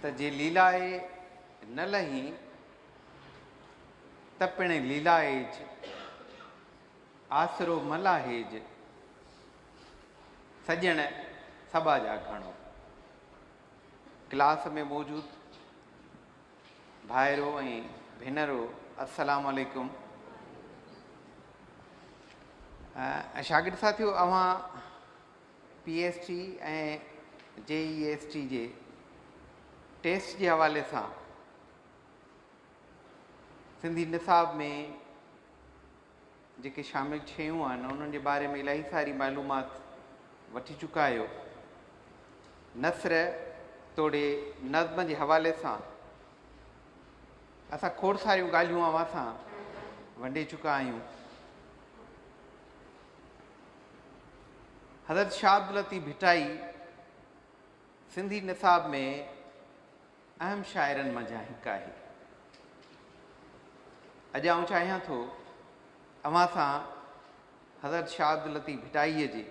ته جي ليلائي نه لهي ته پڻ ليلائيج، آسرو ملاهيج، سڄڻ سڀا جا گهڻو. ڪلاس ۾ موجود ڀائرو ۽ ڀينرو السلام عليڪم شاگرد ساٿيو اوهان P S T ۽ J E S T جي ٽيسٽ جي حوالي سان سنڌي نصاب ۾ جيڪي شامل شيون آهن انهن جي باري ۾ الاهي ساري معلومات وٺي چڪا آهيو نثر توڙي نظم جي حوالي سان اسان کوڙ ساريون ڳالهيون اوهان سان ونڊي چڪا آهيون حضرت شاھ عبداللطيف ڀٽائي سنڌي نصاب ۾ اهم شاعرن منجھان هڪ آهي اڄ آئون چاهيان ٿو اوهان سان حضرت شاھ عبداللطيف ڀٽائي جي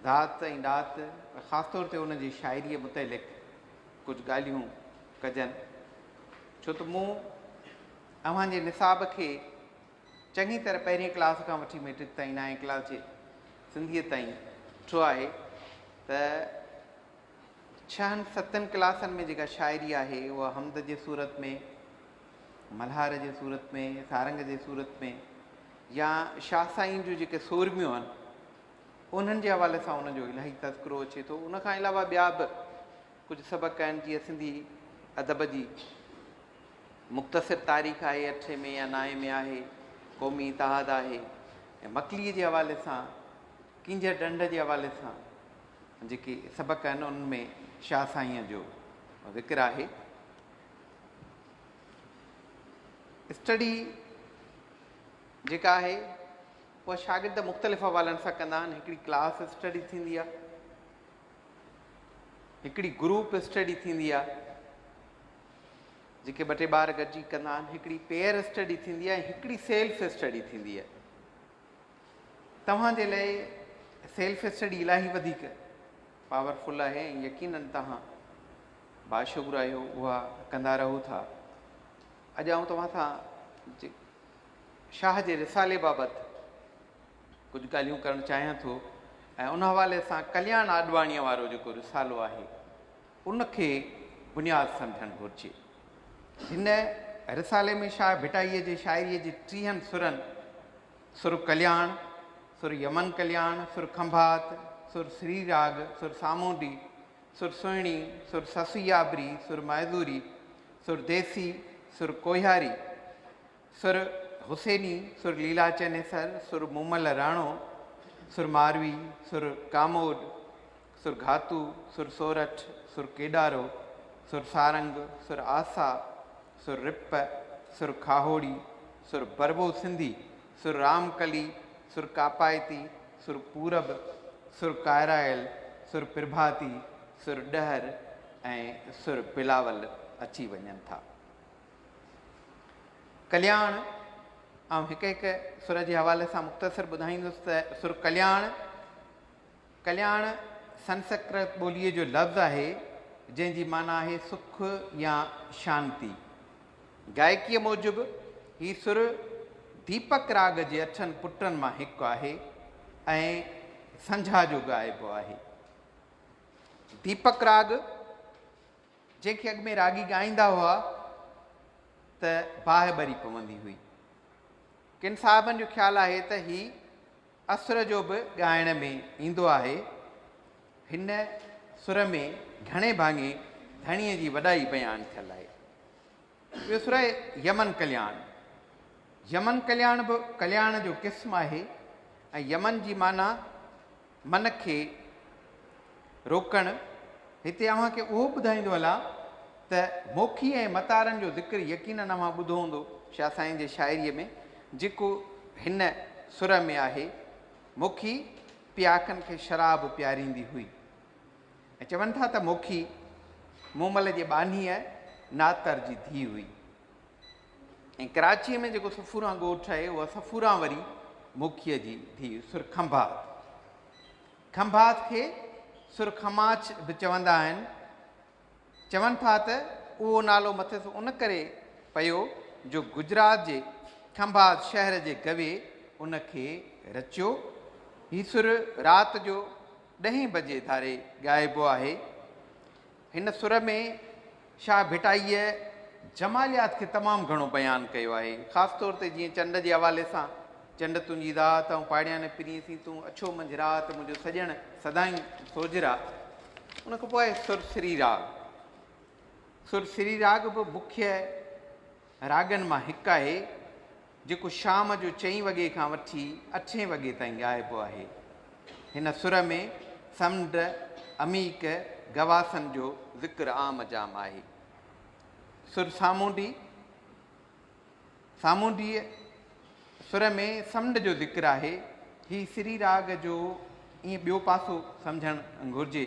ذات ۽ ڏات خاص طور تي ان جي شاعريء متعلق ڪجهه ڳالهيون ڪجن ڇو ته مون اوهان جي نصاب کي چڱي طرح پهرين ڪلاس کان وٺي ميٽرڪ تائين نائين ڪلاس جي سنڌيء تائين ڏٺو آهي ته ڇهن ستن ڪلاسن ۾ جيڪا شاعري آهي اها حمد جي صورت ۾ ملهار جي صورت ۾ سارنگ جي صورت ۾ يا شاهه سائين جون جيڪي سورميون آهن انهن جي حوالي سان ان جو الاهي تذڪرو اچي ٿو ان کان علاوه ٻيا به ڪجهه سبق آهن جيئن سنڌي ادب جي مختصر تاريخ آهي، اٺين ۾ يا نائين ۾ آهي، قومي اتحاد آهي ۽ مڪليء جي حوالي سان ڪينجهر ڍنڍ جي حوالي سان جيڪي سبق آهن انهن ۾ شاهه سائينء جو ذڪر آهي. اسٽڊي جيڪا آهي اها شاگرد مختلف حوالن سان ڪندا آهن، هڪڙي ڪلاس اسٽڊي ٿيندي آهي، هڪڙي گروپ اسٽڊي ٿيندي آهي جيڪي ٻه ٽي ٻار گڏجي ڪندا آهن هڪڙي پيئر اسٽڊي ٿيندي آهي هڪڙي سيلف اسٽڊي ٿيندي آهي توهان جي لاء سيلف اسٽڊي الاهي وڌيڪ پاورفل آهي ۽ يقينن توهان باشعور آهيو اها ڪندا رهو ٿا اڄ آئون توهان سان شاهه جي رسالي بابت ڪجهه ڳالهيون ڪرڻ چاهيان ٿو ۽ ان حوالي سان ڪلياڻ آڏواڻيء وارو جيڪو رسالو آهي ان کي بنياد سمجهڻ گهرجي هن رسالي ۾ شاهه ڀٽائيء جي شاعريء جي ٽيهن سرن سر ڪلياڻ سر يمن ڪلياڻ سر کنڀات سر سري راڳ سر سامونڊي سر سهڻي سر سسي آبري سر مائزوري سر ديسي سر ڪوهياري سر حسيني، سر ليلا چنيسر، سر مومل راڻو، سر ماروي، سر ڪاموڏ، سر گهاتو، سر سورٺ، سر ڪيڏارو، سر سارنگ، سر آسا، سر رپ، سر کاهوڙي، سر بروو سنڌي، سر رام ڪلي، سر ڪاپائتي، سر پورب، سر ڪائرايل، سر پرڀاتي، سر ڏهر ۽ سر بلاول اچي وڃن ٿا. ڪلياڻ، آئون هڪ هڪ سر جي حوالي سان مختصر ٻڌائيندس ته سر ڪلياڻ، ڪلياڻ سنسڪرت ٻوليء جو لفظ آهي، جنهن جي معنيٰ آهي سک يا شانتي. گائڪيء موجب هي سر ديپڪ راڳ جي اٺن پٽن مان هڪ آهي ۽ سنجها جو ڳائبو آهي. ديپڪ راڳ. جنهن کي اڳ ۾ راڳي ڳائيندا هئا ته باهه ٻري پوندي هئي. ڪن صاحبن جو خيال آهي ته هي اسر جو به ڳائڻ ۾ ايندو آهي. هن سر ۾ گهڻي ڀاڱي ڌڻيء جي وڏائي بيان ٿيل آهي. ٻيو سر آهي يمن ڪلياڻ. يمن ڪلياڻ به ڪلياڻ جو قسم آهي ۽ يمن جي معنيٰ من کي روڪڻ، هتي اوهان کي اهو ٻڌائيندو هلان ته موکي ۽ متارن جو ذڪر يقينن اوهان ٻڌو هوندو شاهه سائين جي شاعريء ۾ جيڪو هن سر ۾ آهي، موکي پياڪن کي شراب پياريندي هئي ۽ چون ٿا ته موکي مومل جي ٻانهيء ناتر جي ڌيء هئي. ۽ ڪراچيء ۾ جيڪو صفوران ڳوٺ آهي، اها صفوران وري موکيء جي ڌيء سر کنڀات، کنڀات کي سر خماچ به چوندا آهن، چون ٿا ته اهو نالو مٿس ان ڪري پيو جو گجرات جي کنڀات شهر جي گوي ان کي رچيو. هي سر رات جو ڏهين بجي ڌاري ڳائبو آهي. هن سر ۾ شاهه ڀٽائيء جماليات کي تمام گهڻو بيان ڪيو آهي. خاص طور تي جيئن چنڊ جي حوالي سان، چنڊ تنهنجي ذات، آئون پاڙياڻي پرينء سين تون اڇو منجهه رات، منهنجو سڄڻ سدائين سوجهرا. ان کان پوء آهي سر سري راڳ. سر سري راڳ به مکيه. راڳن مان هڪ آهي، جيڪو شام جو چئين وڳي کان وٺي اٺين وڳي تائين ڳائبو آهي. هن سر ۾ سمنڊ، عميق، گواسن جو ذڪر عام جام آهي. سر سامونڊي، سامونڊيء، سر ۾ سمنڊ جو ذڪر آهي. هي سري راڳ جو ائين ٻيو پاسو سمجهڻ گهرجي،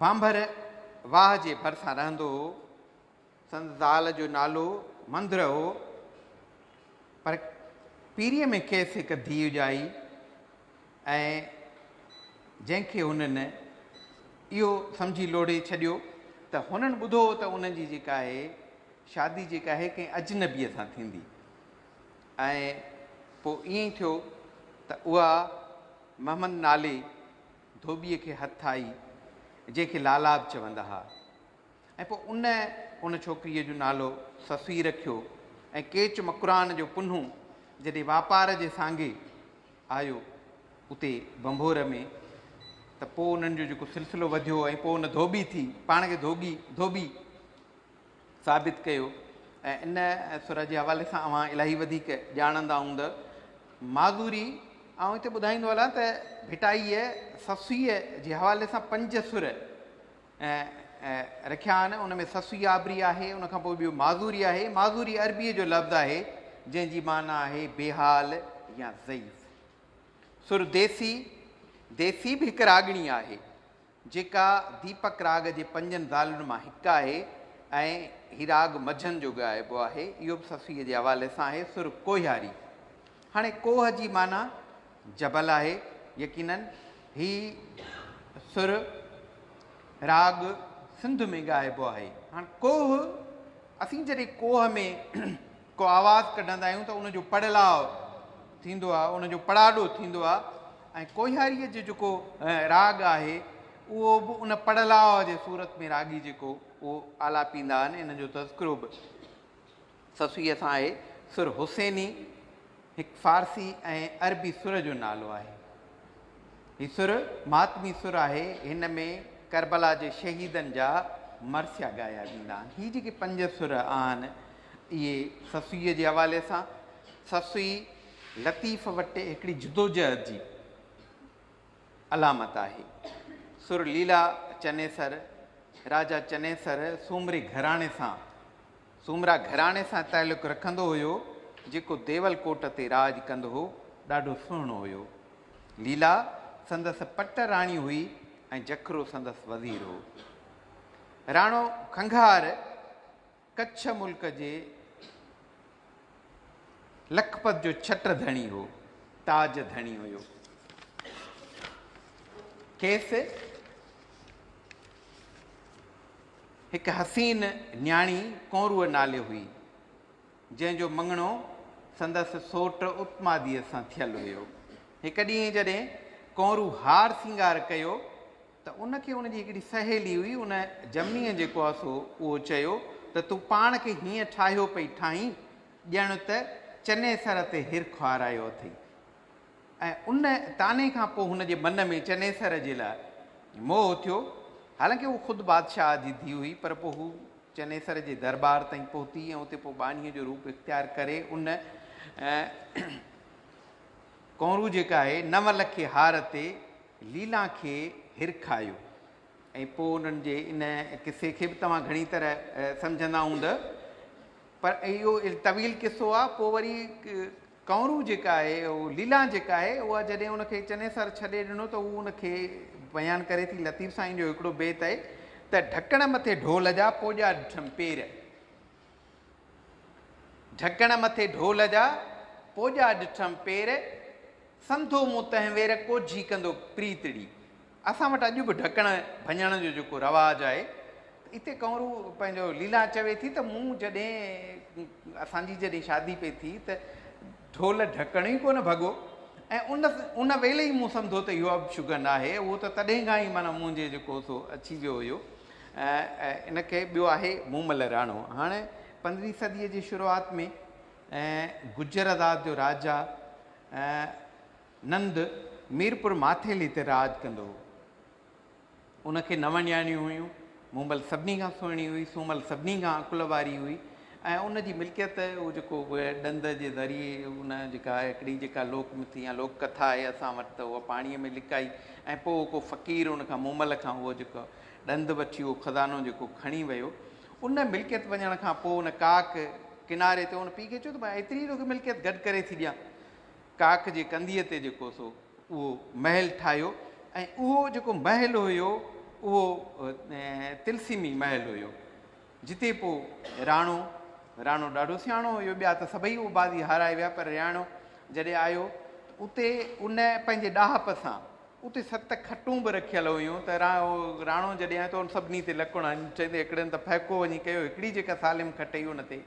ڀانڀر واهه جي ڀرسان رهندو هو. سندس زال جو نالو مندر هو، پر پيريء ۾ کيس هڪ ڌيء ڄائي ۽ جنهن کي هنن اهو سمجهي لوڙهي ڇڏيو ته هنن ٻڌو هو ته انهن جي جيڪا آهي شادي جيڪا آهي ڪنهن اجنبيء سان ٿيندي ۽ پوء ائين ٿيو ته اها محمد نالي ڌوٻيء کي هٿ آئي، جنهن کي لالا به چوندا ها ۽ پوء ان ان ڇوڪريء جو نالو سسئي رکيو ۽ ڪيچ مڪران جو پنهون جڏهن واپار جي سانگي آيو اتي ڀنڀور ۾ ته پوء انهن جو جيڪو سلسلو وڌيو ۽ پوء ان ڌوٻي ٿي پاڻ کي ڌوٻي ڌوٻي ثابت ڪيو ۽ ان سر جي حوالي سان اوهان الاهي وڌيڪ ڄاڻندا هوندء. معذوري، آئون هتي ٻڌائيندو هلان ته ڀٽائيء سسئيء جي حوالي سان پنج سر رکيا آهن، ان ۾ سسئي آبري آهي، ان کان پوء ٻيو معذوري آهي، معذوري عربيء جو لفظ آهي، جنهن جي معنيٰ آهي بي حال يا ضعيف. سر ديسي، ديسي به هڪ راڳڻي آهي، جيڪا ديپڪ راڳ جي پنجن زالن مان هڪ آهي ۽ هي راڳ مجهن جو ڳائبو آهي. اهو به صفيء جي حوالي سان آهي، سر ڪوهياري. هاڻي ڪوهه جي معنيٰ جبل آهي. يقيناً هي سر راڳ سنڌ ۾ ڳائبو آهي. هاڻ ڪوهه، اسين جڏهن ڪوهه ۾. ڪو آواز ڪڍندا آهيون ته ان جو پڙلاء ٿيندو آهي، ان جو پڙاڏو ٿيندو آهي ۽ ڪوهياريء جو جيڪو راڳ آهي اهو به ان پڙلاء جي صورت ۾ راڳي جيڪو اهو آلاپيندا آهن، ان جو تذڪرو به سسويء سان آهي، سر حسيني هڪ فارسي ۽ عربي سر جو نالو آهي. هي سر ماتمي سر آهي، هن ۾ ڪربلا جي شهيدن جا مرثيا ڳايا ويندا آهن. هي جيڪي پنج سر آهن، اهي سسئيء جي حوالي سان سسئي لطيف وٽ هڪڙي جدوجهد جي علامت آهي. سر ليلا چنيسر، راجا چنيسر سومري گهراڻي سان، سومرا گهراڻي سان تعلق رکندو هيو، جيڪو ديول ڪوٽ تي راڄ ڪندو هو، ڏاڍو سهڻو هيو. ليلا سندس پٽ راڻي هئي ۽ جکرو سندس وزير هو. راڻو کنگهار. ڪڇ ملڪ جي لکپت جو ڇٽ ڌڻي هو، تاج ڌڻي هيو. کيس هڪ حسين نياڻي ڪونرو نالي هئي، جنهن جو مڱڻو سندس سوٽ اتماديء سان ٿيل هيو. هڪ ڏينهن جڏهن ڪونرو هار سينگار ڪيو ته ان کي ان جي هڪڙي سهيلي هئي ان جميء جيڪو آ سو اهو چيو ته تون پاڻ کي هيئن ٺاهيو پئي ٺاهين ڄڻ ته چنيسر تي هر کهارايو اٿئي ۽ ان طعني کان پوء هن جي من ۾ چنيسر جي لاء موهه اٿيو حالانڪه هو خود بادشاهه جي ڌيء هئي پر پوء هو چنيسر جي درٻار تائين پهتي ۽ اتي پوء ٻانهيء جو روپ اختيار ڪري ان ڪونرو جيڪا آهي نو لکي هار تي ليلا کي هرکايو ۽ پوء انهن جي ان قصي کي به توهان گهڻي طرح سمجهندا هونده پر اهو طويل قصو آ پوء وري ڪنورو جيڪا آهي ليلا جيڪا آهي اها جڏهن ان کي چني سر ڇڏي ڏنو ته هو ان کي بيان ڪري ٿي لطيف سائين جو هڪڙو بيت آهي ته ڍڪڻ مٿي ڍول جا پوڄا ڏٺم پير ڍڪڻ مٿي ڍول جا، پوڄا ڏٺم پير، سنڌو مون تنهنوير ڪوجهي ڪندو پريتڙي. اسان وٽ اڄ به ڍڪڻ ڀڃڻ جو جيڪو رواج آهي ته اتي ڪنورو پنهنجو ليلا چوي ٿي ته مون جڏهن اسان جي جڏهن شادي پئي ٿي ته ڍول ڍڪڻ ئي ڪونه ڀڳو ۽ ان ان ويل ئي مون سمڌو ته اهو اڀشگن آهي اهو ته تڏهن کان ئي معنيٰ منهنجي جيڪو سو اچي ويو هيو ان کي ٻيو آهي مومل راڻو. هاڻ پندرهين صديء جي شروعات ۾ گجر آزاد جو راجا نند ميرپور ماٿيلي تي راڄ ڪندو هو. ان کي نو نياڻيون هيون. مومل سڀني کان سهڻي هئي، سومل سڀني کان عقل واري هئي ۽ ان جي ملڪيت اهو جيڪو ڏند جي ذريعي ان جيڪا هڪڙي جيڪا لوڪ مٿي يا لوڪ ڪٿا آهي اسان وٽ ته اها پاڻيء ۾ لڪائي ۽ پوء ڪو فقير ان کان مومل کان اهو جيڪو ڏند وٺي اهو خزانو جيڪو کڻي ويو ان ملڪيت وڃڻ کان پوء ان ڪاڪ ڪناري تي ان پيء کي چيو ته مان ايتري توکي ملڪيت گڏ ڪري ٿي ڏيان. ڪاڪ جي ڪنڌيء تي جيڪو سو اهو محل ٺاهيو ۽ اهو جيڪو محل هيو اهو تلسيمي محل هيو جتي پوء راڻو راڻو ڏاڍو سياڻو هيو ٻيا ته سڀئي اهو بازي هارائي ويا پر رياڻو جڏهن آيو ته اتي ان پنهنجي ڏاهپ سان اتي ست کٽون به رکيل هيون ته راڻو جڏهن آيو ته ان سڀني تي لڪڻ هنيون، چئي ته هڪڙين ته ڦهڪو وڃي ڪيو، هڪڙي جيڪا سالم کٽ هئي ان تي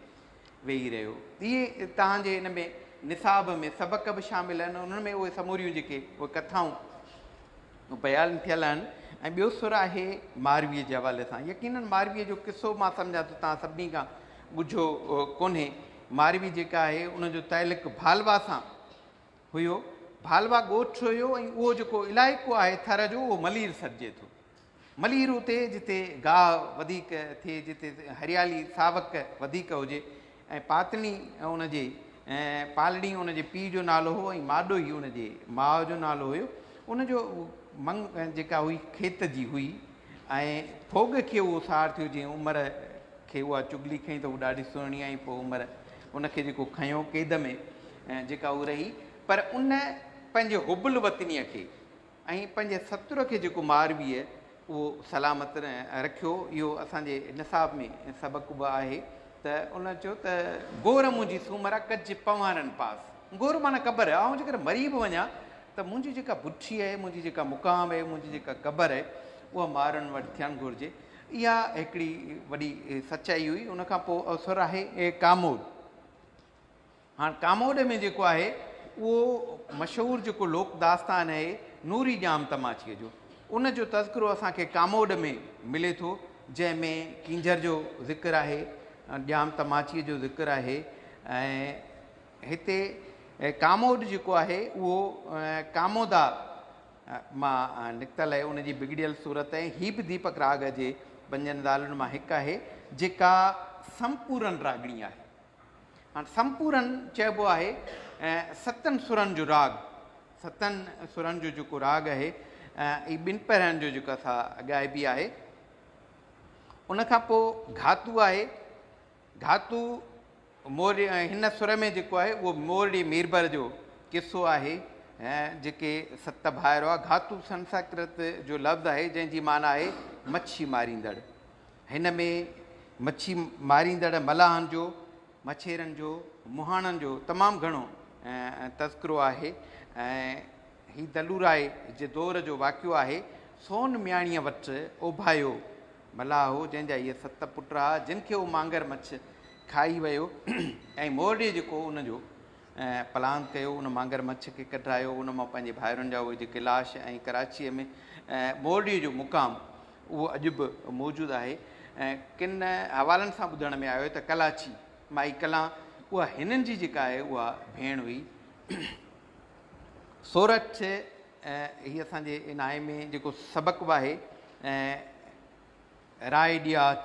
ويهي رهيو. اهي توهان جي ان ۾ نصاب ۾ سبق به شامل آهن، انهن ۾ اهي سموريون جيڪي اهي ڪٿائون بيان ٿيل آهن ۽ ٻيو سر آهي مارويء جي حوالي سان، يقينن مارويء جو قصو مان سمجهان ٿو توهان سڀني کان ڳجهو ڪونهي، ماروي جيڪا آهي ان جو تعلق ڀالوا سان هيو. ڀالوا ڳوٺ هيو ۽ اهو جيڪو علائقو آهي ٿر جو اهو ملير سڏجي ٿو. ملير اتي جتي گاهه وڌيڪ ٿئي جتي هريالي ساوڪ وڌيڪ هجي ۽ پاتڻي ان جي پالڙي ان جي پيء جو نالو هو ۽ ماڏوهي ان جي ماء جو نالو هيو ان جو منگ جيڪا هئي کيت جي هئي ۽ ڦوڳ کي اهو سار ٿيو جنهن عمر کي اها چغلي کنئي ته هو ڏاڍي سهڻي ۽ پوء عمر ان کي جيڪو کنيو قيد ۾ جيڪا هو رهي پر ان پنهنجي حب الوطنيء کي ۽ پنهنجي ستر کي جيڪو مارويء اهو سلامت رکيو اهو اسان جي نصاب ۾ سبق به آهي ته ان چيو ته گور منهنجي سومرا ڪج پنوارن پاس گور معنيٰ قبر آئون جيڪر مري به وڃان ته منهنجي جيڪا بٺي آهي منهنجي جيڪا مقام آهي منهنجي جيڪا قبر آهي اها مارن وٽ ٿيڻ گهرجي اها هڪڙي وڏي سچائي هئي. ان کان پوء اوسر آهي ڪاموڏ. هاڻ ڪاموڏ ۾ جيڪو آهي اهو مشهور جيڪو لوڪ داستان آهي نوري ڄام تماچيء جو ان جو تذڪرو اسان کي ڪاموڏ ۾ ملي ٿو جنهن ۾ ڪينجهر جو ذڪر آهي ڄام تماچيء جو ذڪر آهي ۽ هتي ڪاموڏ جيڪو آهي اهو ڪامودا مان نڪتل آهي، ان جي بگڙيل صورت ۽ هي به ديپڪ راڳ جي پنجن زالن مان هڪ آهي، جيڪا سمپورن راڳڻي آهي. هاڻ سمپورن چئبو آهي ستن سرن جو راڳ، ستن سرن جو جيڪو راڳ آهي، هي ٻن پهرن جو جيڪا سا ڳائبي آهي، ان کان پوء گهاتو آهي، ڌاتو مورڙي ۽ هن سر ۾ جيڪو آهي اهو مورڙي ميربر جو قصو آهي ۽ جيڪي ست ڀائر هئا گھاتو سنسڪرت جو لفظ آهي جنهن جي معنيٰ آهي مڇي ماريندڙ هن ۾ مڇي ماريندڙ ملاحن جو مڇيرن جو مهاڻن جو تمام گھڻو تذڪرو آهي ۽ هي دلورائي جي دور جو واقعو آهي سون مياڻيء وٽ اوڀايو ملاح هو، جنهن جا اهي ست پٽ ها، جن کي اهو مانگر مڇ کائي ويو ۽ مورڙيء جيڪو ان جو پلان ڪيو، ان مانگر مڇ کي ڪڍرايو، ان مان پنهنجي ڀائرن جا اهي جيڪي لاش ۽ ڪراچيء ۾ مورڙيء جو مقام اهو اڄ به موجود آهي. ڪن حوالن سان ٻڌڻ ۾ آيو ته ڪلاچي، مائي ڪلان، اها هنن جي جيڪا آهي اها ڀيڻ هئي. سورٺ ۽ هي اسان جي ان آء ۾ جيڪو سبق به آهي ۽ راء ڏياچ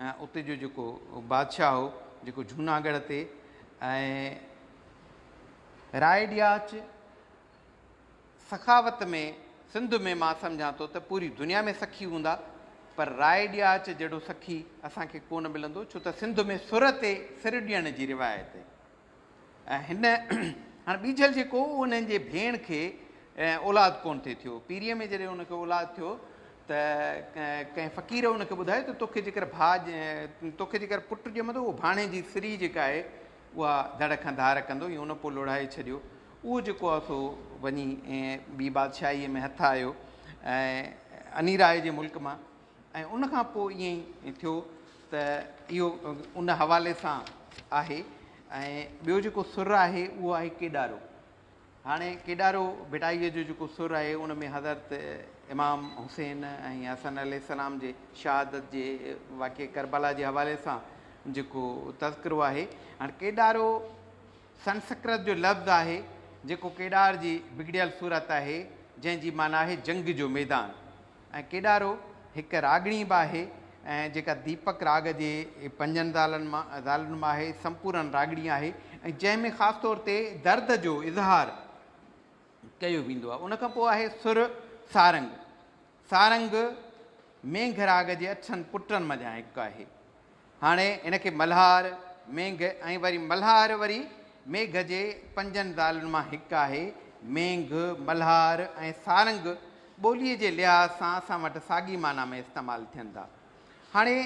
۽ اتي جو جيڪو بادشاهه هو جيڪو جهوناڳڙهه تي ۽ راء ڏياچ سخاوت ۾ سنڌ ۾ مان سمجهان ٿو ته پوري دنيا ۾ سخي هوندا پر راء ڏياچ جهڙو سخي اسان کي ڪونه ملندو ڇو ته سنڌ ۾ سر تي سر ڏيڻ جي روايت ۽ هن هاڻ ٻيجل جيڪو هو انهن جي ڀيڻ کي اولاد ڪونه ٿي ٿيو پيريء ۾ جڏهن ان کي اولاد ٿيو ته ڪنهن فقير ان کي ٻڌايو ته توکي جيڪر ڀاء توکي جيڪر پٽ ڄمندو اهو ڀاڻي جي سري جيڪا آهي اها ڌڙ کان ڌار ڪندو ائين ان پوء لوڙهائي ڇڏيو اهو جيڪو آهي سو وڃي ٻي بادشاهيء ۾ هٿ آيو ۽ انيراء جي ملڪ مان ۽ ان کان پوء ائين ٿيو ته اهو ان حوالي سان آهي ۽ ٻيو جيڪو سر آهي اهو آهي ڪيڏارو هاڻي ڪيڏارو ڀٽائيء جو جيڪو سر آهي ان ۾ حضرت امام حسين ۽ حسن عليه السلام جي شهادت جي واقعي ڪربلا جي حوالي سان جيڪو تذڪرو آهي هاڻي ڪيڏارو سنسڪرت جو لفظ آهي جيڪو ڪيڏار جي بگڙيل صورت آهي جنهن جي معنيٰ آهي جنگ جو ميدان ۽ ڪيڏارو هڪ راڳڻي به آهي ۽ جيڪا ديپڪ راڳ جي پنجن زالن مان زالن مان آهي سمپورن راڳڻي آهي ۽ جنهن ۾ خاص طور تي درد جو اظهار ڪيو ويندو آهي ان کان پوء آهي سر سارنگ سارنگ مينگهه راڳ جي اٺن پٽن منجهان هڪ آهي هاڻي هن کي ملهار، مينگهه ۽ وري ملهار وري ميگهه جي پنجن زالن مان هڪ آهي. مينگهه، ملهار ۽ سارنگ ٻوليء جي لحاظ سان اسان وٽ ساڳي معنيٰ ۾ استعمال ٿين ٿا. هاڻي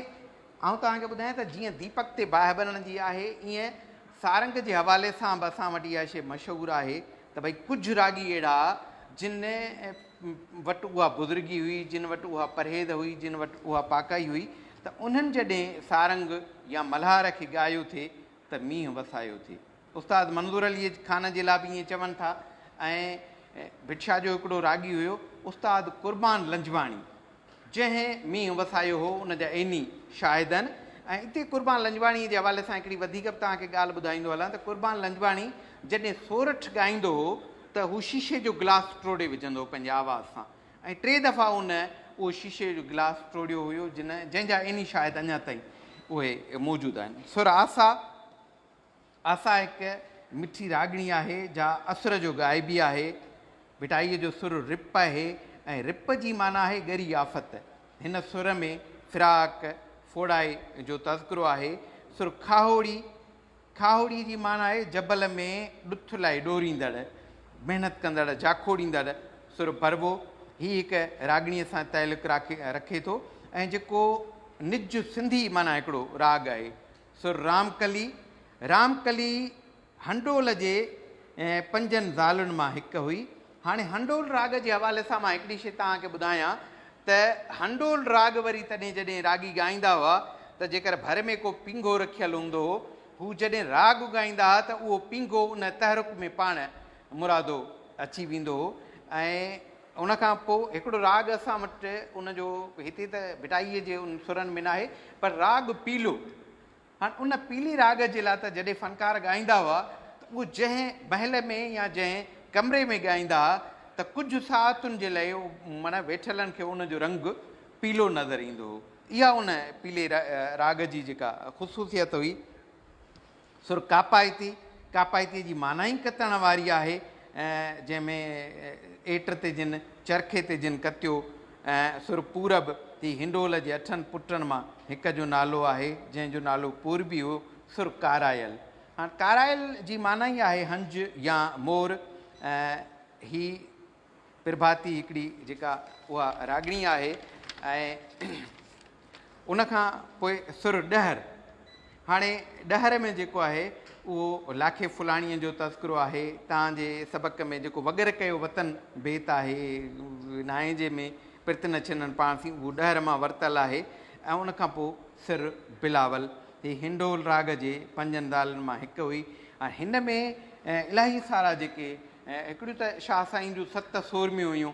آئون توهان کي ٻڌايان ته جيئن ديپڪ تي باهه ٻرڻ جي آهي، ايئن سارنگ جي حوالي سان به اسان وٽ اها شيء مشهور آهي ته ڀئي ڪجهه راڳي اهڙا جن وٽ اها بزرگي هئي، جن وٽ اها پرهيز هئي، جن وٽ اها پاڪائي هئي ته انهن جڏهن سارنگ يا ملهار کي ڳايو ٿي ته مينهن وسايو ٿي. استاد منظور علي خان جي لاء به ائين چون ٿا ۽ ڀٽ شاهه جو هڪڙو راڳي هيو استاد قربان لنجواڻي. جنهن مينهن وسايو هو ان جا عيني شاهد آهن ۽ اتي قربان لنجواڻي جي حوالي سان هڪڙي وڌيڪ به توهان کي ڳالهه ٻڌائيندو هلان ته قربان لنجواڻي جڏهن سورٺ ڳائيندو هو ته هو شيشي جو گلاس ٽوڙي وجهندو هو پنهنجي آواز سان ۽ ٽي دفعا هن اهو شيشي جو گلاس ٽوڙيو هيو جن جنهن جا عيني شاهد اڃا تائين اهي موجود آهن سر آسا آسا هڪ مٺي راڳڻي آهي جا اسر جو غائبي آهي. ڀٽائيء جو سر رپ آهي ۽ رپ جي معنيٰ آهي ڳري آفت. هن سر ۾ فراق، ڦوڙائي، جو تذڪرو آهي. سر کاهوڙي، کاهوڙي جي معنيٰ آهي جبل ۾ ڏٿ لاء ڏوريندڙ، محنت ڪندڙ، جاکوڙيندڙ. سر ڀروو هي هڪ راڳڻيء سان تعلق رکي ٿو ۽ جيڪو نج سنڌي معنيٰ هڪڙو راڳ آهي. سر رام ڪلي، رام ڪلي هنڊول جي پنجن زالن مان هڪ هئي. هاڻي هنڊول راڳ جي حوالي سان مان هڪڙي شي توهان کي ٻڌايان ته هنڊول راڳ وري تڏهن جڏهن راڳي ڳائيندا هئا ته جيڪر ڀر ۾ ڪو پينگهو رکيل هوندو هو هو جڏهن راڳ ڳائيندا ها ته اهو پينگهو ان تحرڪ ۾ پاڻ مرادو اچي ويندو هو ۽ ان کان پوء هڪڙو راڳ اسان وٽ ان جو هتي ته ڀٽائيء جي ان سرن ۾ ناهي، پر راڳ پيلو. هاڻ ان پيلي راڳ جي لاء ته جڏهن فنڪار ڳائيندا هئا ته اهو جنهن محل ۾ يا جنهن ڪمري ۾ ڳائيندا ها ته ڪجهه ساعتن جي لئه معنيٰ ويٺلن کي ان جو رنگ پيلو نظر ايندو هو. اها ان پيلي راڳ جي جيڪا خصوصيت هئي، سر ڪاپائتي، ڪاپائتيء جي معنيٰ ئي ڪتڻ واري آهي، جنهن ۾ ايٽ تي جن، چرخي تي جن ڪتيو. سر پورب، هي هنڊول جي اٺن پٽن مان هڪ جو نالو آهي، جنهن جو نالو پوربي هو. سر ڪارائل، هاڻ ڪارائل جي معنيٰ ئي آهي هنج يا مور. هي پرڀاتي هڪڙي جيڪا اها راڳڻي آهي ۽ ان کان پوء سر ڏهر هاڻي ڏهر ۾ جيڪو آهي اهو لاکي ڦلاڻيء جو تذڪرو آهي تان جي سبق ۾ جيڪو وگر ڪيو وطن بيت آهي نائين جي ۾ پرت نه ڇنن پاڻ ٿي اهو ڏهر مان ورتل آهي ۽ ان کان پوء سر بلاول هي هنڊول راڳ جي پنجن دالن مان هڪ هئي ۽ هن ۾ الاهي سارا جيڪي هڪڙيون ته شاهه سائين جون ست سورميون هيون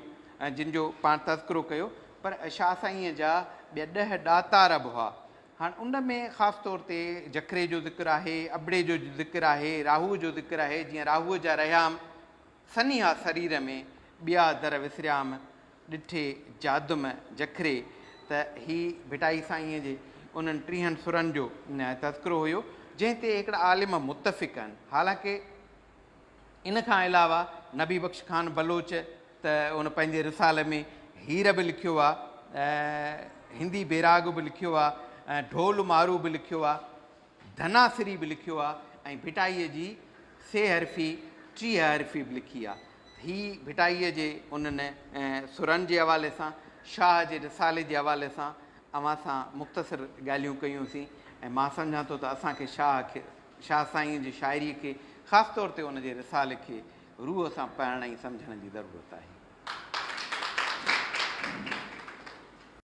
جن جو پاڻ تذڪرو ڪيو پر شاهه سائينء جا ٻيا ڏهه ڏاتار به هئا. هاڻ ان ۾ خاص طور تي جکري جو ذڪر آهي، ابڙي جو ذڪر آهي، راهوء جو ذڪر آهي، جيئن راهوء جا رهيام سنيها سرير ۾، ٻيا در وسريام ڏٺي جادم جکري ته هي ڀٽائي سائينء جي انهن ٽيهن سرن جو تذڪرو هيو جنهن تي هڪڙا عالم متفق آهن حالانڪه ان کان علاوه نبي بخش خان بلوچ ته ان پنهنجي رسالي ۾ هير به لکيو آ، هندي بيراڳ به لکيو آ، ڍول مارو به لکيو آ، ڌناسري به لکيو آ ۽ ڀٽائيء جي سي حرفي، ٽيهه حرفي به لکي آ. هي ڀٽائيء جي انهن سرن جي حوالي سان شاهه جي رسالي جي حوالي سان اوهان سان مختصر ڳالهيون ڪيون سين ۽ مان سمجهان ٿو ته اسان کي شاهه شاهه سائينء جي شاعريء کي، خاص طور تي ان جي رسالي کي روح سان پڙهڻ ۽ سمجهڻ جي ضرورت آهي.